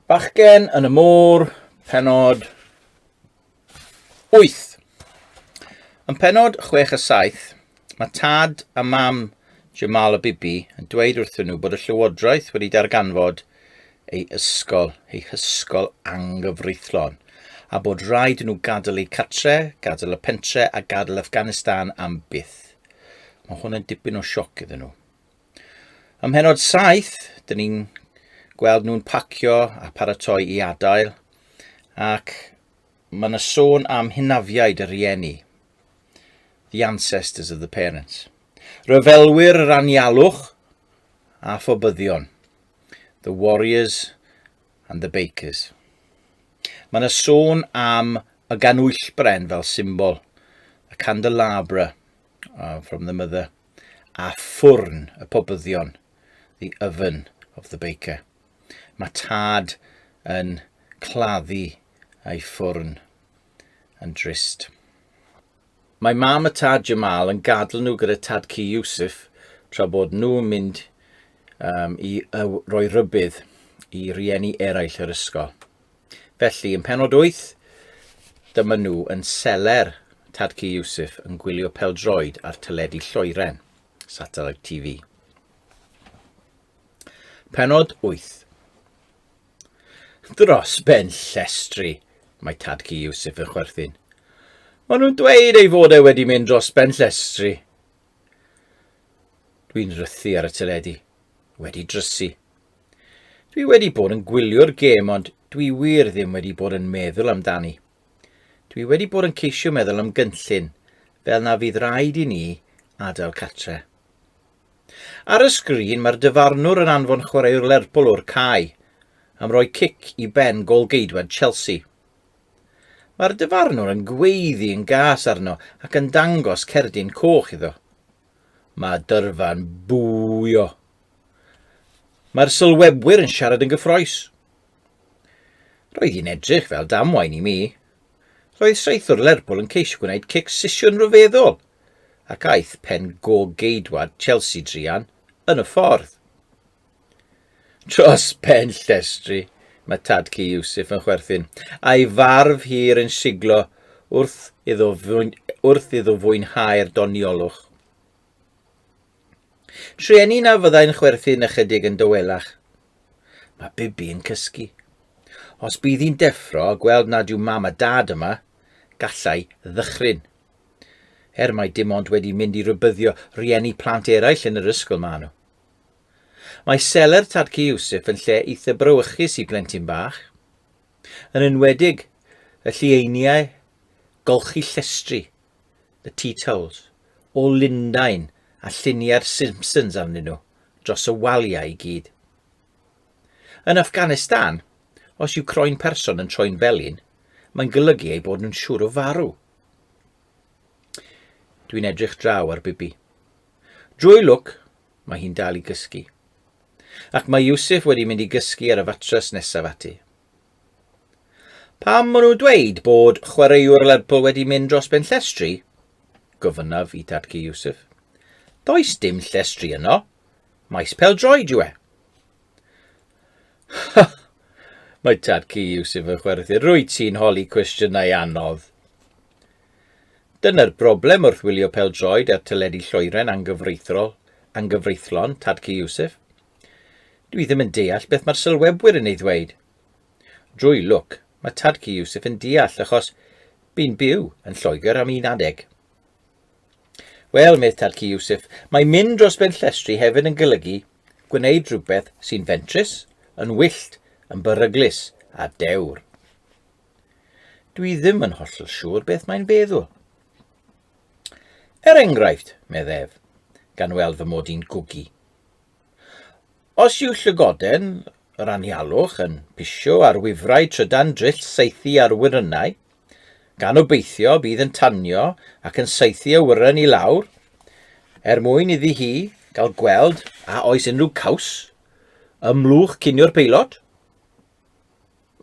Bachgen yn y môr, penod 8. Yn penod 6 a 7, mae tad a mam Jamal a Bibi yn dweud wrthyn nhw bod y Llywodraeth wedi darganfod ei ysgol, ei hysgol anghyfreithlon, a bod rhaid nhw gadael eu catre, gadael y pentre a gadael Afghanistan am byth. Mae hwn yn dipyn o sioc iddyn nhw. Ym mhenod 7, dyn ni'n gweld nhw'n pacio a paratoi i adael, ac mae yna sôn am hynafiaid y rieni, the ancestors of the parents. Rhyfelwyr yr anialwch a phobyddion. The Warriors and the Bakers. Mae yna sôn am y ganwyllbren fel symbol, y candelabra uh, from the mother, a ffwrn y pobyddion, the oven of the baker. Mae tad yn claddu ei ffwrn yn drist. Mae mam y tad Jamal yn gadl nhw gyda tad cu Yusuf tra bod nhw'n mynd um, i uh, roi rybydd i rieni eraill yr ysgol. Felly, yn penod 8, dyma nhw yn seler tad cu Yusuf yn gwylio peldroed ar teledu lloeren, satellite TV. Penod 8. Dros ben llestri, mae tad cu Iwsif yn chwerthin. Maen nhw'n dweud ei fod e wedi mynd dros ben llestri. Dwi'n rhythu ar y teledu. Wedi drysu. Dwi wedi bod yn gwylio'r gêm ond dwi wir ddim wedi bod yn meddwl amdani. Dwi wedi bod yn ceisio meddwl am gynllun, fel na fydd rhaid i ni adael catre. Ar y sgrin mae'r dyfarnwr yn anfon chwaraewr Lerpwl o'r cae am roi cic i ben gôl-geidwad Chelsea. Mae'r dyfarnwr yn gweiddi yn gas arno ac yn dangos cerdyn coch iddo. Mae dyrfa'n bwio. Mae'r sylwebwyr yn siarad yn gyffroes. Roedd hi'n edrych fel damwain i mi. Roedd saethwr Lerpwl yn ceisio gwneud cic sisiwn rhyfeddol, ac aeth pen go-geidwad Chelsea druan yn y ffordd. Dros ben llestri, mae tad cu Yusuf yn chwerthin, a'i farf hir yn siglo wrth iddo, fwyn, wrth iddo fwynhau'r doniolwch. Trueni na fyddai'n chwerthin ychydig yn dywelach, Mae Bibi yn cysgu. Os bydd hi'n deffro a gweld nad yw mam a dad yma, gallai ddychryn. Er mae dim ond wedi mynd i rybyddio rieni plant eraill yn yr ysgol maen nhw. Mae seler tad Ciwsif yn lle eitha brawychus i blentyn bach, yn enwedig y llieiniau golchi llestri The Teatowls, o Lundain a lluniau'r Simpsons arnyn nhw dros y waliau i gyd. Yn Afghanistan, os yw croen person yn troi'n felin, mae'n golygu ei bod nhw'n siŵr o farw. Dwi'n edrych draw ar Bibi. Drwy lwc, mae hi'n dal i gysgu. Ac mae Yusuf wedi mynd i gysgu ar y fatres nesaf ati. Pam maen nhw'n dweud bod chwaraewr Lerpwl wedi mynd dros ben llestri? gofynnaf i Tadcu Yusuf. Does dim llestri yno. Maes pel-droed yw e. Mae tad cu Yusuf yn chwerthin. Rwy ti'n holi cwestiynau anodd. Dyna'r broblem wrth wylio pel-droed ar teledu lloeren anghyfreithrol, anghyfreithlon, tad cu Yusuf. Dwi ddim yn deall beth mae'r sylwebwyr yn ei ddweud. Drwy lwc, mae tad cu Yusuf yn deall achos bu'n byw yn Lloegr am un adeg. Wel, medd tad cu Yusuf, mae mynd dros ben llestri hefyd yn golygu gwneud rhywbeth sy'n fentrus, yn wyllt, yn beryglus a dewr. Dwi ddim yn hollol siŵr beth mae'n feddwl. Er enghraifft, meddef, gan weld fy mod i'n gwgu. Os yw llygoden yr anialwch yn pisio ar wifrau trydan dryll saethu ar wyrynnau, gan obeithio bydd yn tanio ac yn saethu y wyrren i lawr, er mwyn iddi hi gael gweld a oes unrhyw gaws ym mlwch cinio'r peilot,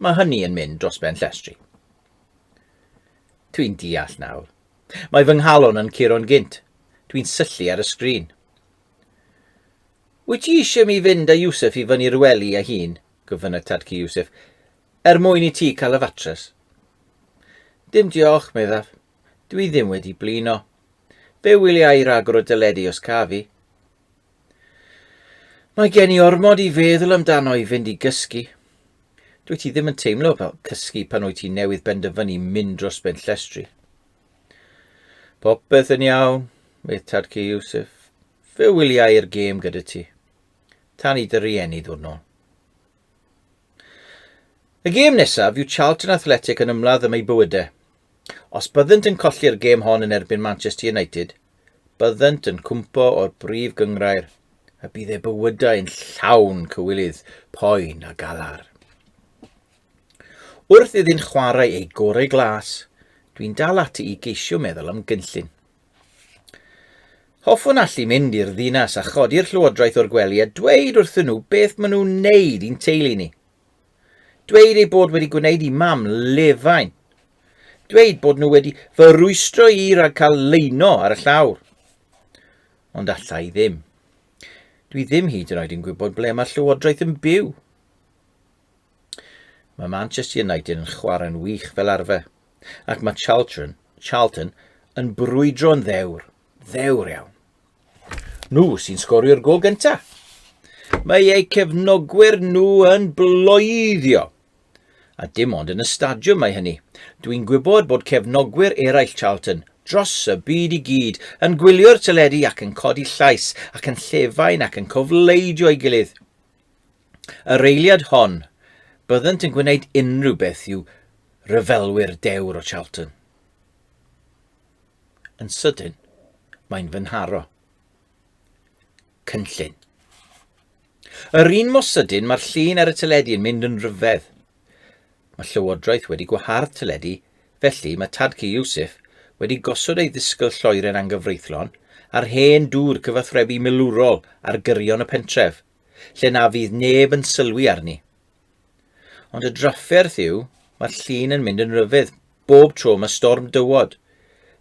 mae hynny yn mynd dros ben llestri. Dwi'n deall nawr. Mae fy nghalon yn curo'n gynt. Dwi'n syllu ar y sgrin. Wyt ti eisiau mi fynd â Iwsef i fyny'r wely a hun, gofyn y tad ci Iwsef, er mwyn i ti cael y fatres? Dim diolch, meddaf. Dw i ddim wedi blino. Fe wyliai ragor o deledu os caf i. Mae gen i ormod i feddwl amdano i fynd i gysgu. Dwi ti ddim yn teimlo fel cysgu pan wyt ti newydd benderfynu mynd dros ben llestri. Popeth yn iawn, medd Tadci Iwsif. Fe wyliai'r gêm gyda ti. Tan i dy rieni ddod nôl. Y gêm nesaf yw Charlton Athletic yn ymladd am ei bywydau. Os byddynt yn colli'r gêm hon yn erbyn Manchester United, byddynt yn cwmpo o'r brif gyngrair a bydd eu bywydau yn llawn cywilydd, poen a galar. Wrth iddynt chwarae eu gorau glas, dwi'n dal ati i geisio meddwl am gynllun. Hoffwn allu mynd i'r ddinas a chodi'r llywodraeth o'r gwely a dweud wrthyn nhw beth maen nhw'n neud i'n teulu ni. Dweud ei bod wedi gwneud i mam lefain. Dweud bod nhw wedi fy rwystro i rhag cael leino ar y llawr. Ond alla i ddim. Dwi ddim hyd yn oed yn gwybod ble mae'r llywodraeth yn byw. Mae Manchester United yn chwarae'n wych fel arfer, ac mae Charlton, Charlton yn brwydro'n ddewr, ddewr iawn. Nhw sy'n sgorio'r gol gynta. Mae eu cefnogwyr nhw yn bloeddio. A dim ond yn y stadiwm mae hynny. Dwi'n gwybod bod cefnogwyr eraill Charlton dros y byd i gyd yn gwylio'r teledu ac yn codi llais ac yn llefain ac yn cofleidio ei gilydd. Yr eiliad hon, byddent yn gwneud unrhyw beth i'w ryfelwyr dewr o Charlton. Yn sydyn, mae'n fy nharo. Cynllun. Yr un mor sydyn mae'r llun ar y teledu yn mynd yn ryfedd. Mae Llywodraeth wedi gwahardd teledu, felly mae Tadci Youssef wedi gosod ei ddisgyl lloeren anghyfreithlon ar hen dŵr cyfathrebu milwrol ar gyrion y pentref, lle na fydd neb yn sylwi arni. Ond y drafferth yw, mae'r llun yn mynd yn ryfedd bob tro mae storm dywod,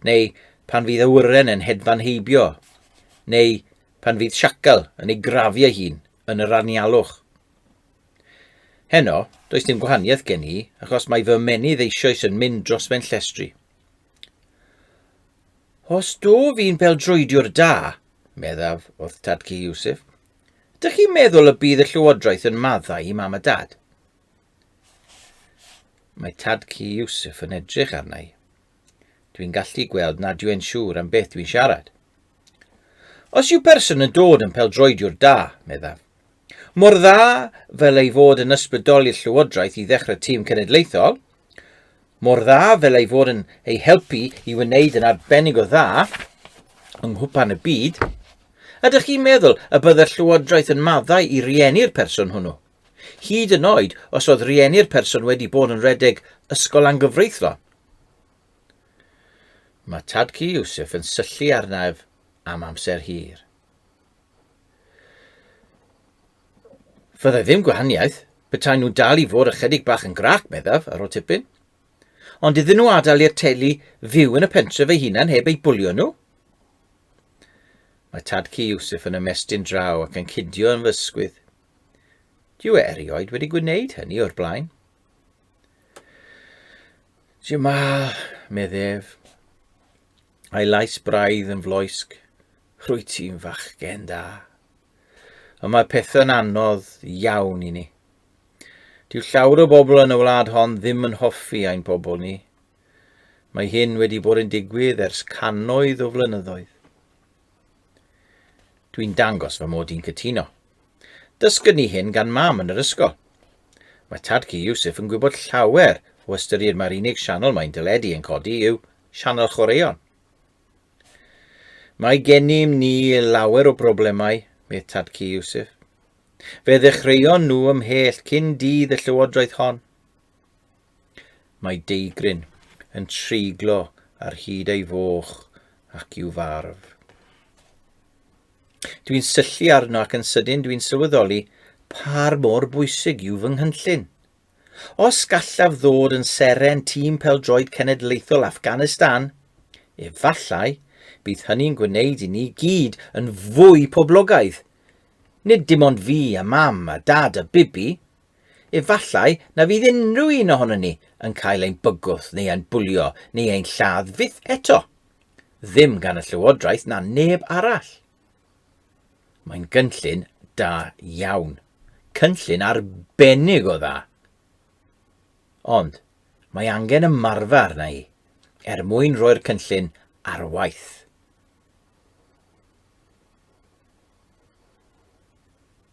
neu pan fydd awyren yn hedfan heibio, neu pan fydd siacal yn ei grafu ei hun. yn yr arnialwch. Heno, does dim gwahaniaeth gen i, achos mae fy ymenydd eisoes yn mynd dros fe'n llestri. Os do fi'n beldroediwr da, meddaf wrth tad cu Iwsif, dych chi'n meddwl y bydd y llywodraeth yn maddau i mam a dad? Mae tad cu Iwsif yn edrych arna i. Dwi'n gallu gweld nad yw e'n siŵr am beth dwi'n siarad. Os yw person yn dod yn peldroediwr da, meddaf. Mor dda fel ei fod yn ysbrydoli'r llywodraeth i ddechrau tîm cenedlaethol, mor dda fel ei fod yn ei helpu i wneud yn arbennig o dda yng nghwpan y byd, ydych chi'n meddwl y byddai'r llywodraeth yn maddau i rieni'r person hwnnw? hyd yn oed os oedd rieni'r person wedi bod yn redeg ysgol anghyfreithlon. Mae Tadci Yusuf yn syllu arnaf am amser hir. Fyddai ddim gwahaniaeth, betaen nhw'n dal i fod ychydig bach yn grac, meddaf, ar ôl tipyn. Ond iddyn nhw adael i'r teulu fyw yn y pentref ei hunan heb ei bwlio nhw? Mae tad Ci Yusuf yn ymestyn draw ac yn cydio yn fy ysgwydd. Dw erioed wedi gwneud hynny o'r blaen. Jamal, medd ef. A'i lais braidd yn floesg. Rwy ti'n fachgen da. Ond mae pethau'n anodd iawn i ni. Dyw llawer o bobl yn y wlad hon ddim yn hoffi ein pobl ni. Mae hyn wedi bod yn digwydd ers canoedd o flynyddoedd. Dwi'n dangos fy mod i'n cytuno. Dysgyn ni hyn gan mam yn yr ysgol. Mae tad cu Yusuf yn gwybod llawer o ystyried mae'r unig sianel mae'n dyledu yn codi yw sianel chwaraeon. Mae gennym ni lawer o broblemau, medd tad cu Yusuf. Fe ddechreuon nhw ymhell cyn dydd y llywodraeth hon. Mae deigryn yn treiglo ar hyd ei foch ac i'w farf. Dwi'n syllu arno ac yn sydyn dwi'n sylweddoli par mor bwysig yw fy nghynllun. Os gallaf ddod yn seren tîm peldroed cenedlaethol Afghanistan, efallai bydd hynny'n gwneud i ni gyd yn fwy poblogaidd. Nid dim ond fi a mam a dad a bibi, Efallai na fydd unrhyw un ohonon ni yn cael ein bygwth neu ein bwlio neu ein lladd fyth eto. Ddim gan y Llywodraeth na neb arall. Mae'n gynllun da iawn. Cynllun arbennig o dda. Ond mae angen ymarfer arna i er mwyn rhoi'r cynllun ar waith.